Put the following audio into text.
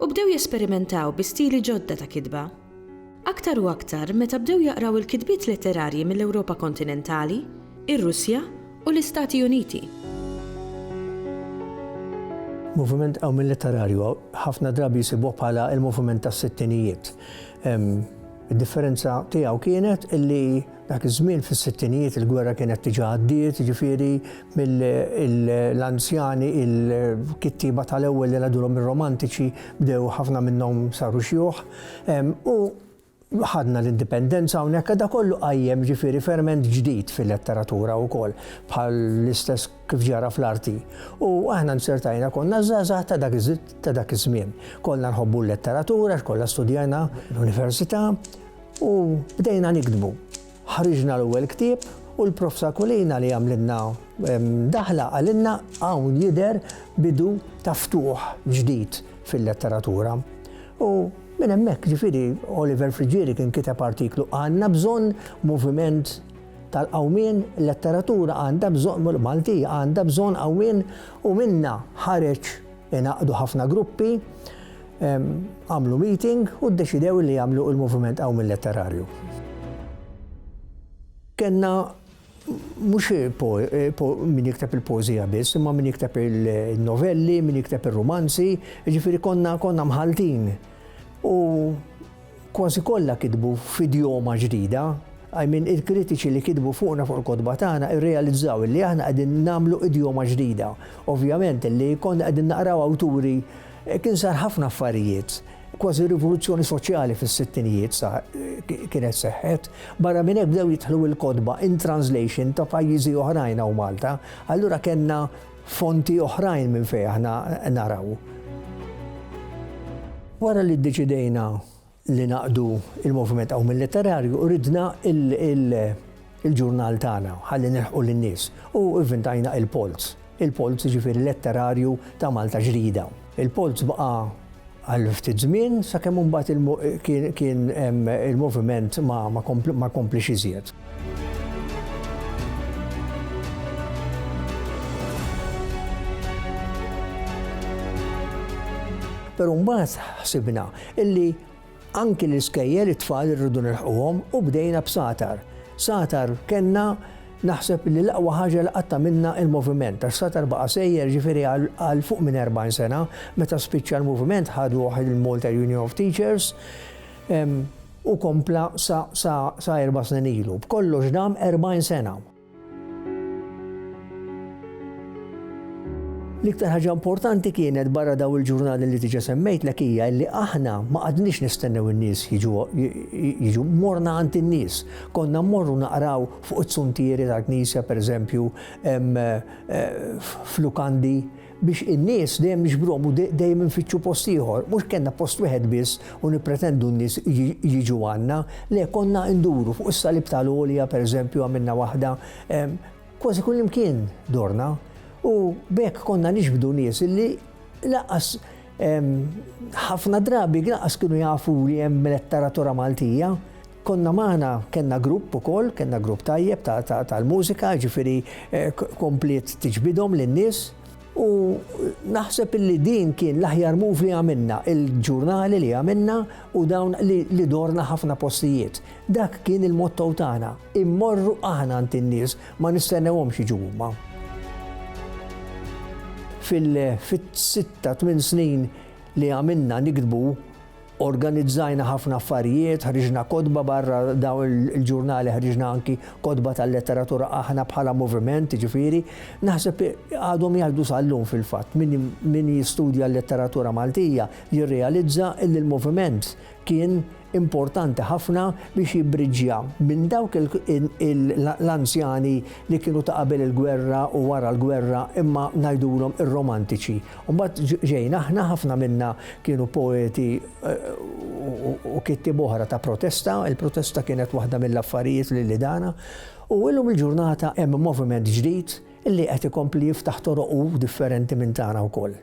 u bdew jesperimentaw bi stili ġodda ta' kitba. Aktar u aktar meta bdew jaqraw il-kitbiet letterarji mill-Ewropa kontinentali, ir-Russja u l-Istati Uniti. Moviment qawmien letterarju ħafna drabi jsibuh bħala il-moviment tas-sittinijiet. Id-differenza tiegħu kienet illi Dak iż-żmien fis-sittinijiet il-gwerra kienet diġà għaddiet, jiġifieri l-anzjani, il-kittieba tal-ewwel li ngħidulhom ir-romantiċi bdew ħafna minnhom saru xjuħ u ħadna l-indipendenza hawnhekk da kollu qajjem jiġifieri ferment ġdid fil-letteratura wkoll bħal l-istess kif ġara fl-arti. U aħna nsertajna konna żgħażagħ ta' dak ta' dak iż-żmien. Kollha nħobbu l-letteratura, kollha studjajna l-università, U bdejna niktbu. Ħriġna l-ewwel ktieb u l-Prof Sakulina li għamlilna daħla qalilna hawn jidher bidu ta' ftuħ ġdid fil-letteratura. U minn hemmhekk ġifieri Oliver Friggieri kien kiteb artiklu għandna bżonn moviment tal-qawmien, letteratura għandha bżonn, Maltija għandha bżonn qawmien u minnha ħareġ Ingħaqdu ħafna gruppi, għamlu meeting u ddeċidew li jagħmlu il-Moviment Qawmi Letterarju. Kenna mhux min jikteb il-pożija biss, imma min jikteb il-novelli, min jikteb ir-rumanzi, jiġifieri konna konna mħaltin. U Kważi kollha kitbu f'idjoma ġdida. I mean, il-kritiċi li kitbu fuqna fuq il-kotba tagħna irrealizzaw illi aħna qegħdin nagħmlu idjoma ġdida. Ovvjament illi konna qegħdin naqraw awturi kien sar ħafna affarijiet. Kważi rivoluzzjoni soċjali fis-sittinijiet sar kienet seħħet. Barra minn hekk bdew jidħlu il-kotba in translation ta' pajjiżi oħrajn hawn Malta. Allura kellna fonti oħrajn minn fejn aħna naraw. Wara li ddeċidejna li naqdu il-Moviment Qawmil Letterarju, ridna il-ġurnal tagħna ħalli nilħqu lin-nies u vvintajna il-Polz. Il-Polz ġifieri letterarju ta' Malta ġdida. Il-polz baqa' għal ftit żmien sakemm imbagħad kien il-moviment ma kompliex iżjed. Però mbagħad ħsibna illi Anki l-iskejjel it-tfal irridu nilħquhom u bdejna b'Satar. Satar kellna naħseb li l-aqwa ħaġa li qatt għamilna il-moviment għax Satar baqa' sejjer ġifieri għal fuq minn 40 sena. Meta spiċċa l-moviment ħaduh il-Malta Union of Teachers u kompla sa erba' snin ilu. B'kollox dam 40 sena. L-iktar ħaġa importanti kienet barra daw il-ġurnali li diġa semmejtlek hija li aħna ma qadniex nistennew in-nies jiġu morna għand in-nies. Konna mmorru naqraw fuq it-suntieri tal-knisja pereżempju eh, f'lukandi Biex in-nies dejjem niġbruhom u dejjem infittxu post ieħor. Mhux kellna post wieħed biss u nippretendu n-nies jiġu għandna. Le, konna nduru, fuq is-Salib ta' l-Għolja, pereżempju, għamilna waħda. Kważi kullimkien dorna. U b'hekk konna niġbdu nies li lanqas ħafna drabi lanqas kienu jafu li hemm letteratura Maltija. Konna magħna kellna grupp ukoll, kellna grupp tajjeb tal-mużika, ġifieri eh, kompliet tiġbidhom lin-nies. U naħseb illi din kien l-aħjar move li għamilna, il-ġurnali li għamilna u dawn li dorna ħafna postijiet. Dak kien il-motto tagħna, immorru aħna għand in-nies ma nistennewhom xi ġumma. Fil-sitta tmien snin li għamilna nikdbu Organizzajna ħafna affarijiet, ħriġna kotba barra daw il-ġurnali, ħriġna anki kotba tal-letteratura aħna bħala moviment, ġifiri, naħseb għadhom jgħidu sal-lum fil-fatt, min jistudja l-letteratura Maltija jirrealizza li l-moviment kien importanti ħafna biex jibbriġja minn dawk l-anzjani li kienu ta' qabel il-gwerra u wara l-gwerra imma ngħidulhom ir-romantiċi U mbagħad ġejna aħna ħafna minna kienu poeti u kittieb oħra ta' protesta, il-protesta kienet waħda mill-affarijiet li li dana, u illum il-ġurnata hemm moviment ġdid li qed ikompli jiftaħ toroqu differenti minn tagħna wkoll.